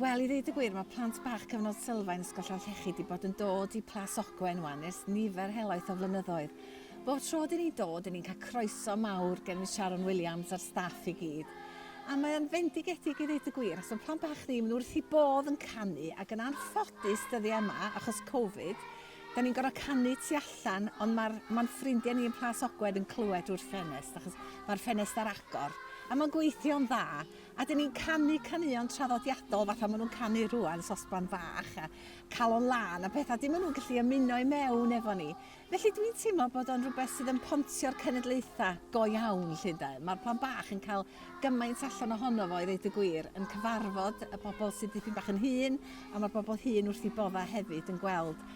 Wel, i ddeud y gwir, mae plant bach cyfnod sylfaen Ysgol Llanllechi wedi bod yn dod i Plas Ogwen wan ers nifer helaeth o flynyddoedd. Bob tro dyn ni'n dod, dyn ni'n cael croeso mawr gen Miss Sharon Williams a'r staff i gyd. A mae o'n fendigedig i ddeud y gwir, os mae plant bach ni, maen nhw wrth i bodd yn canu, ac yn anffodus dyddiau yma, achos Covid, da ni'n gorfod canu tu allan, ond mae'r ma ffrindiau ni yn Plas Ogwen yn clywed wrth ffenest, achos mae'r ffenest ar agor. A mae'n gweithio'n dda, A dyn ni'n canu caneuon traddodiadol fatha maen nhw'n canu rwan, sosban fach a calon lan a pethau. Dim maen nhw'n gallu ymuno i mewn efo ni. Felly dwi'n teimlo bod o'n rhywbeth sydd yn pontio'r cenedlaethau go iawn, lle de. Mae'r plan bach yn cael gymaint allan ohono fo, i ddeud y gwir, yn cyfarfod y bobl sydd dipyn bach yn hŷn, a mae'r bobl hŷn wrth i boddau hefyd yn gweld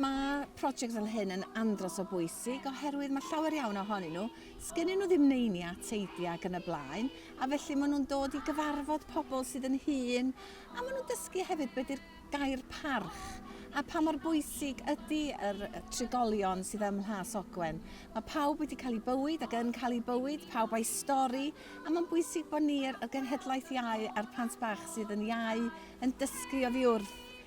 Mae prosiect fel hyn yn andros o bwysig oherwydd mae llawer iawn ohonyn nhw, sgennyn nhw ddim neini a teidi ac yn y blaen, a felly maen nhw'n dod i gyfarfod pobl sydd yn hŷn, a maen nhw'n dysgu hefyd beth ydy'r gair parch a pa mor bwysig ydy yr trigolion sydd ym Mhlas Ogwen. Mae pawb wedi cael ei bywyd ac yn cael ei bywyd, pawb a'i stori, a mae'n bwysig bod ni, y Genhedlaeth Iau a'r plant bach sydd yn iau, yn dysgu oddi wrth